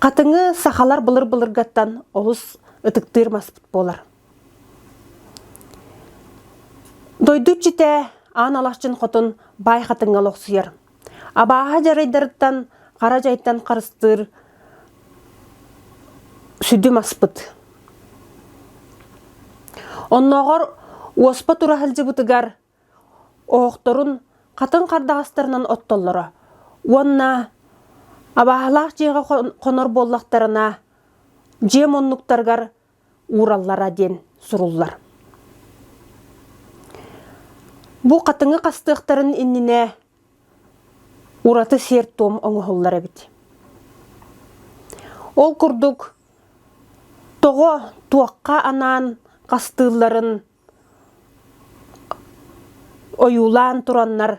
Хатыҥы сахалар былыр-былыргаттан олус ытыктыыр маспыт буолар. Дойду иччитэ аан алахчын хотун баай хатыҥҥа олохсуйар. Абааһы дьарайдарыттан хара дьайтан харыстыыр сүдү маспыт. Оннооҕор уоспа тура сылдьыбытыгар оһохторун хатыҥ хардаҕастарынан оттоллоро уонна абааһылаах дьиэҕэ хонор буоллахтарына дьиэ муннуктарыгар уураллара диэн суруллар бу хатыҥы хастыахтарын иннинэ ураты сиэр-туом оҥоһуллар эбит ол курдук тоҕо туохха анаан хастыылларын ойуулаан тураннар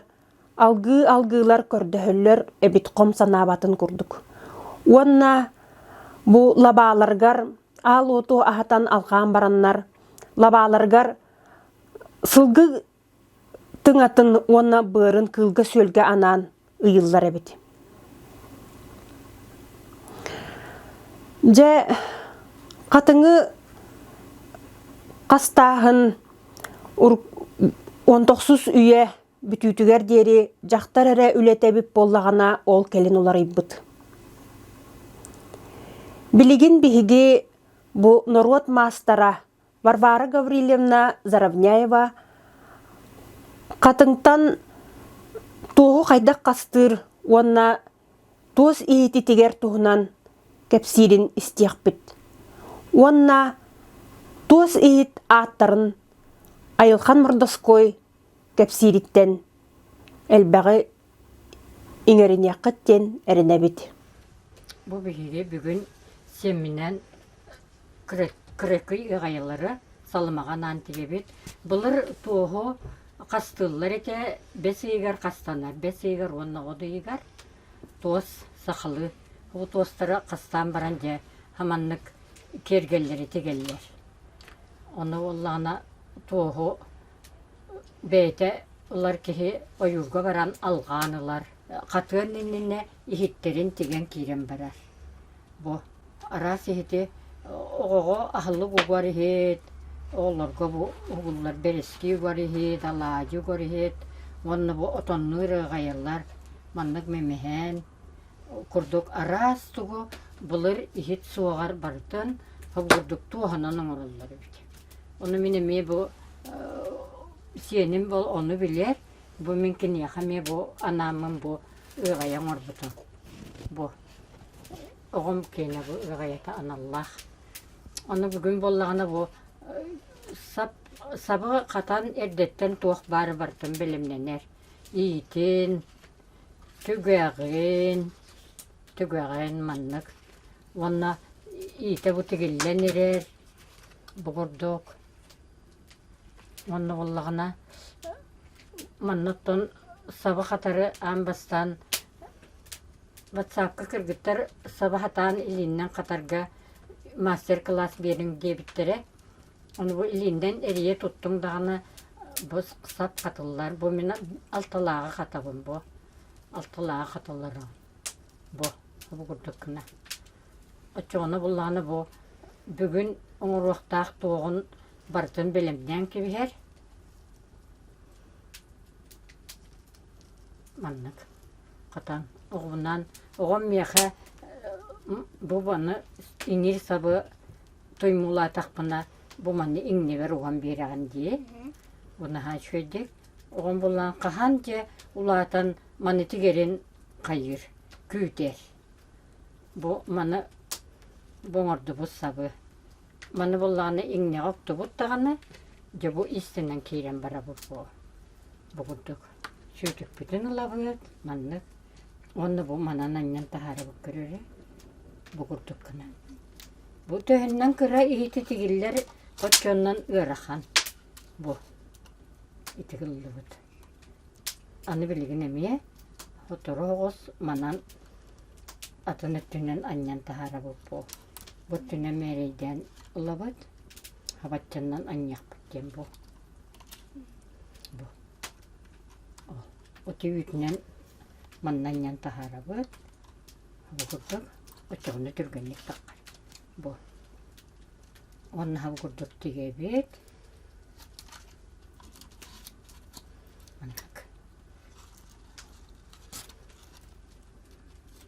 алгыы алгыылар көрдөһөллөр эбит хом санаабатын курдук уонна бу лабааларгар аал уоту аһатан алҕаан бараннар лабааларгар сылгы тыҥатын уонна быарын кыылга-сүөлгэ анаан ыйыллар эбит. Дьэ, хатыҥы хастааһын онтохсус үйэ бүтүүтүгэр диэри дьахтар эрэ үлэтэбит буоллаҕына ол кэлин уларыйбыт. Билигин биһиги бу норуот маастара Варвара Гаврильевна Заровняева Хатыҥтан туоһу хайдах хастыыр уонна туос иһититигэр туһунан кэпсиирин истиэхпит уонна туос иһит ааттарын Айылхан Мордоской кэпсиириттэн элбэҕи иҥэриниэххит диэн эрэнэбит. Бу биһиги бүгүн сэмминэн кыракый ыҕайылары салымаҕа анаан тигэбит. Былыр туоһу хастыыллар этэ бэс ыйыгар хастанар, бэс ыйыгар уонна от ыйыгар туос, сахалы бу туостары хастаан баран дьэ хаманнык киэргэллэри тигэллэр. Ону буоллаҕына туоһу бэйэтэ ылар киһи ойуурга баран алҕаан ылар, хатыан иннинэ иһиттэрин тигэн киирэн барар. Бу араас иһити оҕоҕо аһылык угар иһит, оҕолорго бу угуллар бэрэски угар иһит, алаадьы угар иһит уонна бу отоннуур ыаҕайылар маннык мэмэһээн курдук араас тугу былыр иһит суоҕар барытын холбурдук туоһунан оҥороллор эбит. Ону мин эмиэ бу сиэним бу ону билэр, бу мин киниэхэ эмиэ бу анааммын бу ыаҕайа оҥорбутум. Бу оҕом киэнэ бу ыаҕайата аналлаах. Ону бүгүн буоллаҕына бу сап сабы хатан эрдэттэн туох баары барытын бэлэмнэнэр. Иитин, Түгэҕин, түгэҕин маннык уонна иитэ бу тигиллэн ирэр бу курдук уонна буоллаҕына манна оттон саба хатары аан бастаан ватсапка кыргыттар саба хатаан илииннэн хатарга мастер-кылаас биэриҥ диэбиттэрэ Ону бу илииннэн эрийэ туттуҥ даҕаны, бу сап хатыллар. Бу мин алталааҕы хатабын бу. Алталааҕы хаталлара. Бу, бу курдук гына. Оччоҕуна буллаҕына бу бүгүн оҥоруохтаах туоҕун барытын бэлэмнээн кэбиһэр. Маннык. Хатан оҕобунан оҕом миэхэ бу баны иҥир сабы туймуулаатахпына бу манна иҥнибэр уган биэрэҕин дии унаһаа үчүгэйдик оҕом буллаан хаһан дьэ улаатан маннык эрин хайыыр күүтэр бу маны бу оҥордубут сабы маны буллаҕына иҥнэҕэ уктубут даҕаны дьэ бу истинэн киирэн барабыт буо букурдук сүтүкпүтүн ылабыт маннык уонна бу манан анньан таһаарабыт көрөрө букурдук гынан бу төһөннөн кыра иһити тигиллэр хоччоннон ыарахан бу ити ыллыбыт аны билигин эмиэ сотору оҕус манан атын өттүнэн анньан таһаарабыт бу бу өттүнэн мээрэйдээн ылабыт хабаччаннан анньыахпыт диэн бу Ити үүтүнэн маннанньан таһаарабыт. Бу курдук оччоҕуна түргэнник таххар. Бу. Уонна һабы курдук тигэбит. Маннык.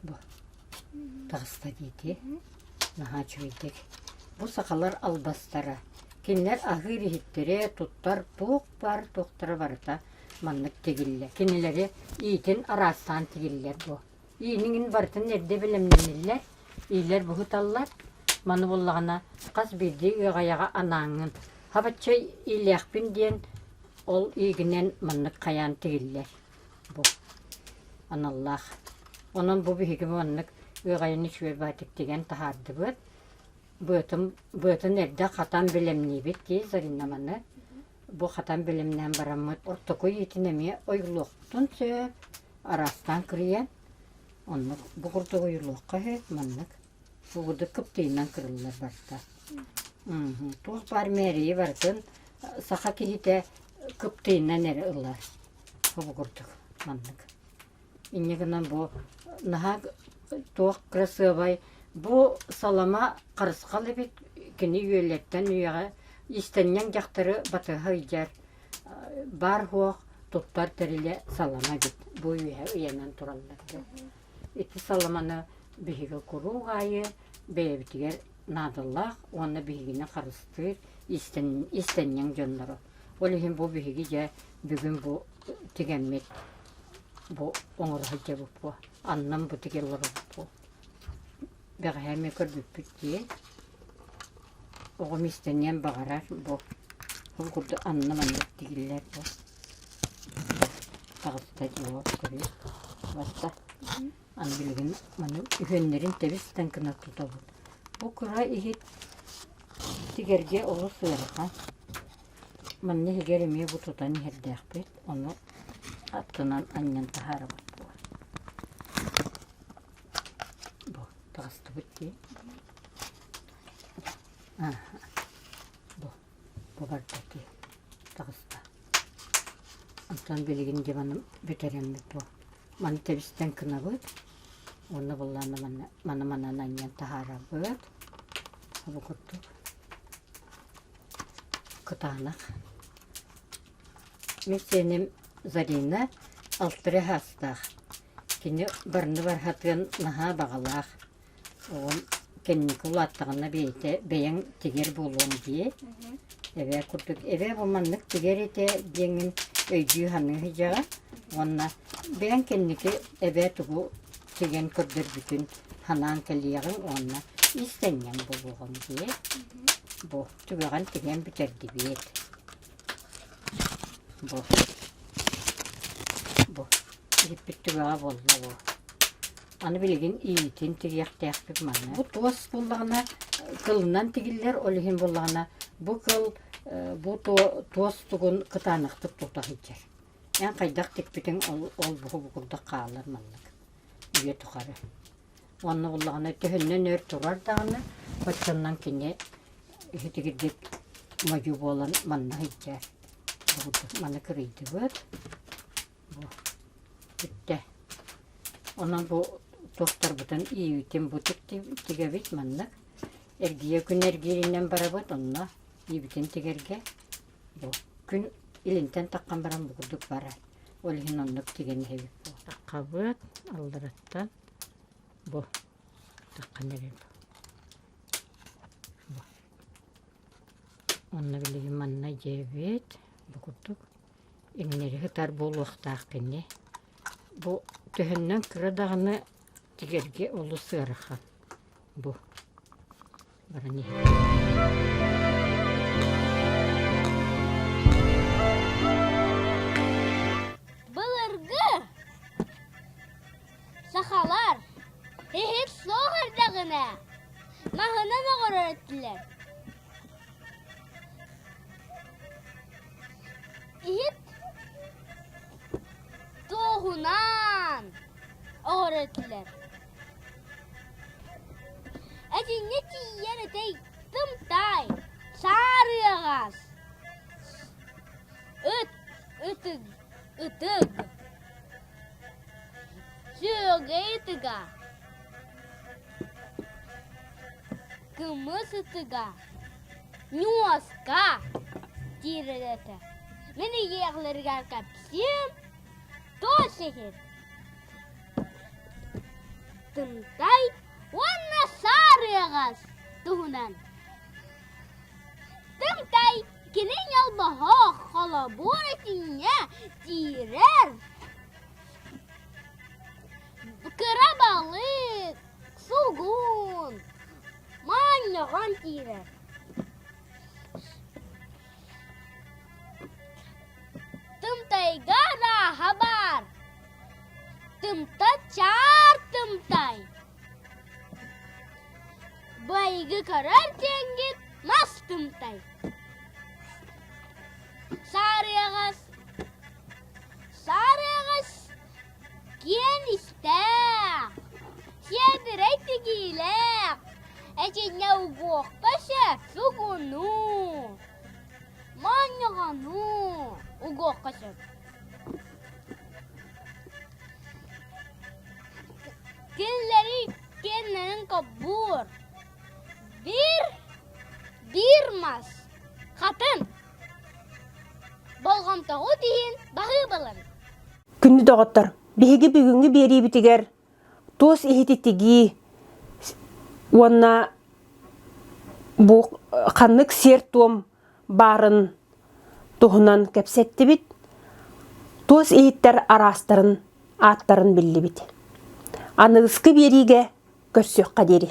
Бу таҕыста диити наһаа үчүгэйдик. Бу сахалар албастара. Кинилэр аһыыр иһиттэри туттар туох баар туохтара барыта маннык тигиллэр. Кинилэри иитин араастаан тигиллэр бу. Ииниҥин барытын эрдэ бэлэмнэниллэр, иилэр буһуталлар. Маны буоллаҕына хас биирдии ыаҕайаҕа анааҥҥын. Хабаччы иилиэхпин диэн ол иигинэн маннык хайаан тигиллэр. бу аналлаах онон бу биһигим маннык ыаҕайыны сүөрбаатык тигэн таһаардыбыт быатын быатын эрдэ хатан бэлэмниибит дии Зарина маны бу хатан бэлэмнээн бараммыт ортокуй итин эмиэ ойулуохтун сөп араастаан кырыйан оннук бу курдук ойулуохха үһү маннык Фугуду кыптыйынан кырыллар барта. Туох баар мээрийи барытын саха киһитэ кыптыйынан эрэ ылар обугурдук маннык. Инньэ гынан бу наһаа туох кырасыабай бу салама харысхал эбит кини үөлэттэн үйэҕэ истэнньэҥ дьахтары батыһа ыйдьар баар-суох туттар тэрилэ салама эбит бу үөһэ ыйанан тураллар дии. Ити саламаны биһиги куруук аайы бэйэбитигэр наадалаах уонна биһигини харыстыыр иистэнньэҥ дьоннору. Ол иһин бу биһиги дьэ бүгүн бу тигэммит бу оҥоро сылдьабыппыт аннан бу тиги олоробуппут. Бэҕэһээ эмиэ көрбүппүт дии оҕом иистэнниэн баҕарар бу ол курдук анна маннык тигиллэр бу таҕыста дьиэ тэбис барда аны билигин маны үһүөннэрин тэбистэн гына тутабыт бу кыра иһит тигэргэ олус ыарахан манна иһигэр эмиэ бу тутан иһэрдээхпит ону аттынан анньан таһаарабыт буо бу таҕыстыбыт дии бу буоларбытый таҕыста онтон билигин диваным бүтэрэммит буо маны тэбистэн гынабыт уонна буллаанна манна маны манан анньан таһаарабыт обу курдук кытаанах мин сиэним зарина алтыры саастаах кини барыны бархатыан наһаа баҕалаах Оҕом кэнники улааттаҕына бэйэтэ бэйэҥ тигэр буолуоҥ дии. Эбээ курдук эбээ бу маннык тигэр этэ диэҥҥин өйдүү-саныы сыдьаҕа уонна бэйэҥ кэнники эбээ тугу тигэн көрдөрбүтүн санаан кэлиэҕиҥ уонна ис тэҥҥэн буолуоҕуҥ дии. Бу түгэҕин тигэн бүтэрдибиэт. Бу бу иһиппит түгэҕэ буолла бу. Аны билигин иитин тириэхтээхпит манна. Бу туос буллаҕына кылынан тигиллэр, ол иһин буллаҕына бу кыл бу туос тугун кытаанахтык тута сылдьар. Эн хайдах тикпитиҥ ол буһу бу курдук хаалар маннык үйэ тухары. Онно буллаҕына төһүннэн өр турар даҕаны хоччоннон кини иһитигирдик модьу буолан манна сылдьар. Манна кырыйдыбыт. Бүттэ. Онон бу туохтарбытын иибитим бутик тигэбит маннык. Эргийэ күн эргииринэн барабыт онно иибитин тигэргэ бу күн илинтэн таххан баран бу курдук бара. Ол иһин оннук тигэн иһэбит буо. Таххабыт алларыттан бу таххан эрим. Бу. Онно билигин манна дьиэбит бу курдук иҥнэри сытар буолуохтаахпын ини бу төһөннөн кыра даҕаны тигэргэ олус ыарахан бу баран былыргы сахалар иһит суох эрдэҕинэ маһынан оҕорор этилэр иһит туоһунан оҕоро этилэр эдьиҥҥэ тиийэн этэй тымтай саарыаҕас ыт ытык ытык сүөгэй ытыга кымыс ытыга Ньуоска киирэр этэ. Мин ийиэхлэригэр кэпсиим, туос иһин тымтай уонна саарыаҕас туһунан. Тымтай кини ньолбоһох холобур этиҥҥэ киирэр. Кыра балык Сулгуун маанньаҕан киирэр Тымтайга арааһа баар Тымта чаар тымтай Байыгы көрөр диэҥҥит мас тымтай Саарыаҕас Саарыаҕас Киэн истээх, сиэдэрэй тигиилээх, этиннэ угуохха сөп сугунуу, моонньоҕонуу угуохха сөп. Кинилэри киэннэрин коббуур. Биир, биир мас, хатан, болҕомтоҕут иһин баһыыбылын. Күннү доҕоттор, биһиги бүгүҥҥү биэриибитигэр туос иһити тигии уонна бу ханнык сиэр-туом баарын туһунан кэпсэттибит, туос иһиттэр араастарын ааттарын биллибит. Аныгыскы биэриигэ көрсүөххэ диэри.